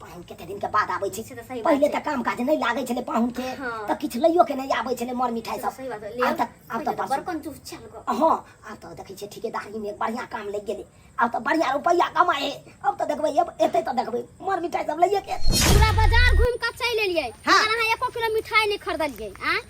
पाहुन कते दिन के बाद आबै छै से तऽ सही बात पहिले छै। तऽ काम काज नहि लागै छलै पाहुन के हँ। तऽ किछु लइयो के नहि आबै छलै मर मिठाइ से तऽ सब सही बात है। ले आब तऽ आब पहिले तऽ तऽ बड़ बड़कन चूस चल गो हँ आब तऽ देखै छियै ठिकेदारी मे बढ़िया काम लागि गेलै आब तऽ बढ़िया रुपैआ कमाए हे आब तऽ देखबै अब एतै तऽ देखबै मर मिठाइ सब लइए के एतै। पूरा बाजार घूम के चलि एलियै हाँ। मगर अहाँ एको किलो मिठाई नहीं खरीदलियै आ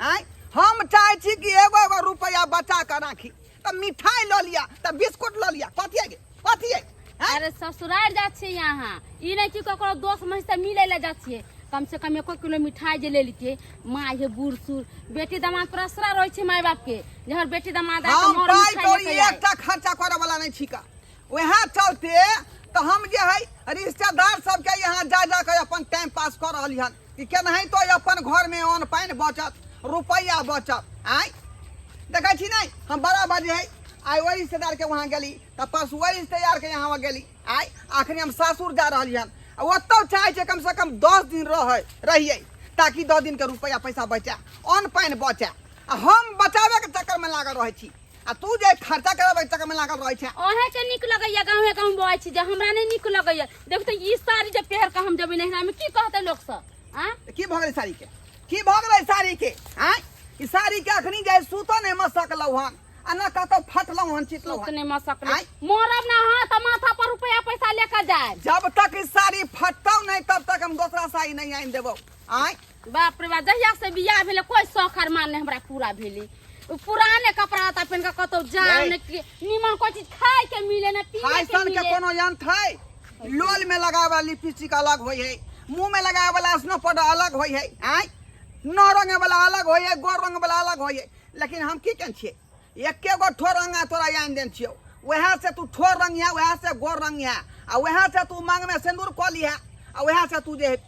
आँय हम चाहै छी कि एगो एगो रुपैआ बचा कऽ राखी तऽ मिठाइ लऽ लिअ तऽ बिस्कुट लऽ लिअ कथी है गे कथी है आँय? अरे ससुराल जा छियै यहाँ ई नहीं कि ककरो दोस्त महीन से मिले ले जा छियै कम से कम एको किलो मिठाई जे ले लेतियै माँ हे बूढ़ सूढ़ बेटी दामाद पर असरा रहै छै माय बाप के जे हमर बेटी दामाद आए हम तऽ पाइ मोर कौड़ी मिठाई एकटा खर्चा करऽ वाला नहि छिका वएह चलते तऽ हम जे है रिश्तेदार सबके यहाँ जा जा कऽ अपन टाइम पास कऽ रहली हन कि केनाहितो अपन घरमे अन्न पानि बचत रुपैआ बचत आँय देखै छी नहि हम बड़ा बजे है आइ ओहि रिश्तेदारके वहाँ गेली तऽ परसू ओहि रिश्तेदारके यहाँ गेली आइ अखनी हम सासुर जा रहली हन आ ओतहु चाहै छै कमसँ कम दस दिन रहै रहियै ताकि दस दिनके रुपैआ पैसा बचै अन्न पानि बचै आ हम बचाबैके चक्करमे लागल रहै छी आ तू जे खर्चा करब एक में लागल रहे छै ओहे के निक लगैया गांव में कहूं बोय छी जे हमरा नै निक लगैया देख त ई साड़ी जे पहर के हम जबे नहिरा में की कहते लोग सब हां की भ गेलै साड़ी के की भ गेलै साड़ी के हां ई साड़ी के अखनी जाय सुत नै म सकलौ हन आ न कतो फटलौ हन चितलौ हन नै म सकलौ मोरब ना हां त माथा पर रुपया पैसा लेकर जाय जब तक ई साड़ी फटतौ नै तब तक हम दूसरा साड़ी नै आइन देबौ आय बाप रे बा जहिया से बियाह भेले कोई शौक अरमान ने हमरा पूरा भेले उ पुराने कपड़ा ता पहन के कतो जाए नहीं। ने कि- नीमन कोई चीज खाए के मिले ने पीए के फैशन के मिले कोनो यंत्र है लोल में लगावे वाला लिपस्टिक अलग होय है मुंह में लगावे वाला स्नो पाउडर अलग होय है आय नौ रंग वाला अलग होय है गोर रंग वाला अलग होय है लेकिन हम की कन छिए एके गो ठोर रंग आ तोरा यान देन छियो वएह से तू ठोर रंग है वएह से गोर रंग है आ वएह से तू मांग में सिंदूर कऽ लिहा आ वएह से तू जे है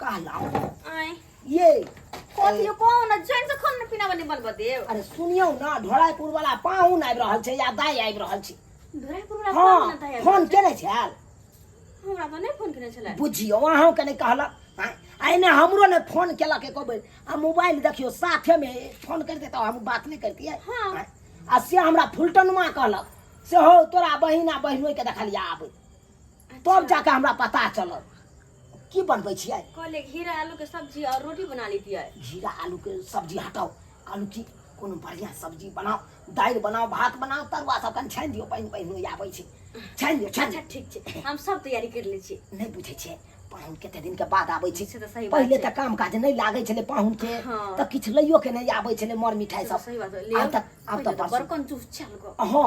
कहला आय ये कथी यो कहू न जैन से खाना पीना बने बनबऽ देव अरे सुनियौ न ढोराइपुर वाला पाहुन आबि रहल छै या दाइ आबि रहल छै धोरापुर वाला फोन हँ न तय फोन केने छल हमरा तो नहीं फोन केने छले बुझियौ अहूँ के नहि कहलक आँय, आ एने हमरो ने फोन केलक एको बेर आ मोबाइल देखियौ साथेमे फोन करिते तऽ हम बात नहि करितियै हँ। आँय, आ से हमरा फुलटनमा कहलक से हो तोरा बहिन आ बहिनोइके देखलियै आबै तब जाके हमरा पता चलल की बनबै छियै कहले घीरा आलू के सब्जी और रोटी बना लेती है घीरा आलू के सब्जी हटाओ कहलू की कोनो बढ़िया सब्जी बनाओ दालि बनाओ भात बनाओ तरुआ सब कनि छानि दियौ पानि पानि होइए आबै छै छानि दियौ छानि अच्छा दियौ ठीक छै हम सब तैयारी कर ले छी नहि बुझै छियै पाहुन कते दिन के बाद आबै छै से तऽ सही बात पहिले छै। तऽ काम काज नहि लागै छलै पाहुन के हँ। तऽ किछु लैयो के नहि आबै छलै मर मिठाई सब सही बात है। ले आब तऽ आब तऽ पहिले परसू बड़कन चूस चल गो हँ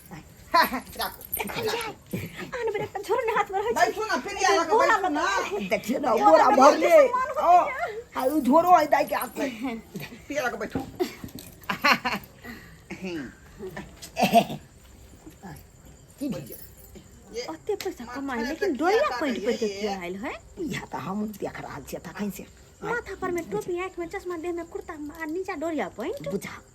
झोरो है दाई के हाथ में पिया लगा बैठो की भेल ओते पैसा कमाए लेकिन डोरिया पैंट पर के किया आइल है या त हम देख रहल छियै तखन से माथा पर में टोपी आँख में चश्मा देह में कुर्ता आ नीचा डोरिया पैंट बुझा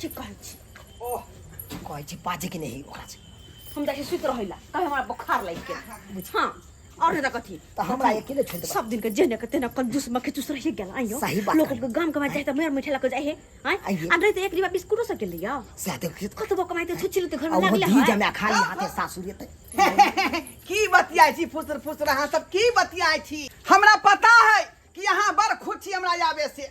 ठीक कहै छी ओ कहै छी बाजे के नहीं ओकरा से हम जाके सुत रहिला कहे हमरा बुखार लाग के बुझ हां और नहीं तो कथी तो हमरा अकेले छोड़ देबा सब दिन के जेने के तेने कंजूस मखे चूस रही गेल आइयो सही बात लोग कहली। के गाम कमाए जाए त मेर मिठे लगे जाए है हां आइए। अंदर तो एक डिब्बा बिस्कुटो सके लिया से आते खेत कत बो कमाए तो छुचिल तो घर में अब लागले दी है जमे खा ली हाथे सासुर ते की बतियाई छी फुसर फुसर अहाँ सब की बतियाई छी हमरा पता है कि अहाँ बड़ खुद छी हमरा आबे से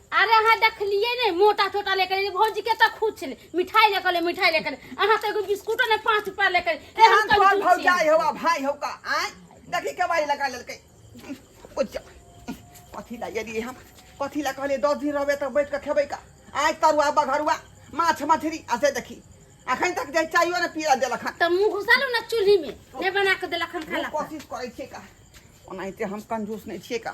अरे अहाँ देखलियै ने मोटा छोटा लेकर एलियै, भौजी के तऽ खुद छलै मिठाई लेकर एलियै, मिठाई लेकर एलियै। अहाँ तऽ एगो बिस्कुटो ने पाँच रुपया लेकर एलियै। एहन एहन तोहर कंजूस भौजाइ छियै। हौ आ भाइ हौ का आँय देखी केवारी लगा लेलकै ओ जा, कथी लए एलियै हम कथी लए कहलियै दस दिन रहबै तऽ बैठ कऽ खेबै का आइ तरुआ बघरुआ माछ मछरी आ से देखी अखन तक जे चाइयो ने पीला देलक हन तऽ मुँह घुसालू ने चूल्ही में नहि बना के देलक हन हम खाना कोशिश करै छियै का ओनाहिते हम कंजूस नहि छियै का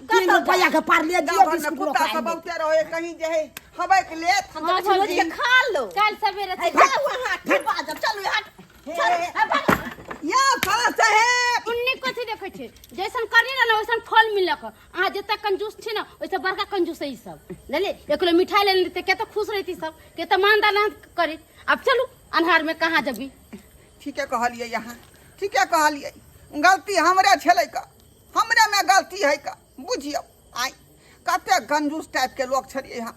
तीन कतऽ रुपया के पारले दियो गाँव घर में बिस्कुट कुत्ता रोकाई सब बहुते रहे कहीं जे है हवाई के लेत हम हाँ, तो कुछ रोज भौजी। के खा लो कल सवेरे है, से जा वहाँ के बाजब चलू हट चल है, भाग। या साला साहेब उन्ने कथी देखै छै जैसन करनी रहल वैसन फल मिलक अहाँ जते कंजूस छी ने ओइसे बड़का कंजूस है ई सब जानली एक किलो मिठाई लेने रहते केते खुश रहती सब केते मानदान अहाँ करी अब चलू अन्हार में कहाँ जबी ठीके कहलियै यहाँ ठीके कहलियै गलती हमरे छलै का हमरेमे गलती है का बुझियौ आइ कते कंजूस टाइपके लोक छलियै हम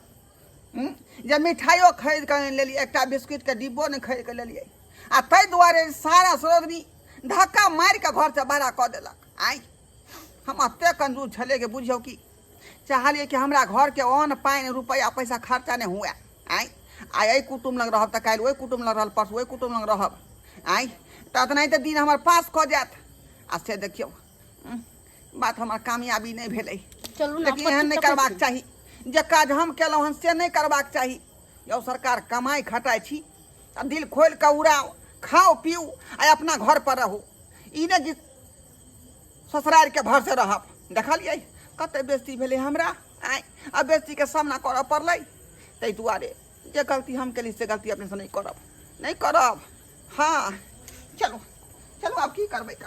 हूँ? जे मिठाइयो खरीद कऽ आनि लेलियै एकटा बिस्कुटके डिब्बो नहि खरीद कऽ लेलियै आ ताहि दुआरे सारा सरोदनी धक्का मारि कऽ घरसँ बड़ा कऽ देलक आइ हम एतेक कंजूस छलियै कि बुझियौ कि चाहलियै कि हमरा घरके अन्न पानि रुपैआ पैसा खर्चा नहि हुए आँय आइ एहि कुटुम लग रहब तऽ काल्हि ओहि कुटुम लग रहल परसू ओहि कुटुम लग रहब आँय तऽ एतना तऽ दिन हमर पास कऽ जायत आ से देखियौ बात हमर कामयाबी नहि भेलै लेकिन एहन नहि करबाक चाही जे काज हम केलहुँ हन से नहि करबाक चाही यौ सरकार कमाइ खटाइ छी आ दिल खोलि कऽ उड़ाउ खाउ पीउ आ अपना घर पर रहू ई नहि कि ससुरारिके भरसँ रहब देखलियै कते बेस्ती भेलै हमरा आँय आ बेस्तीके सामना करऽ पड़लै ताहि दुआरे जे गलती हम केली से गलती अपनेसँ नहि करब नहि करब हँ चलू चलू आब की करबै का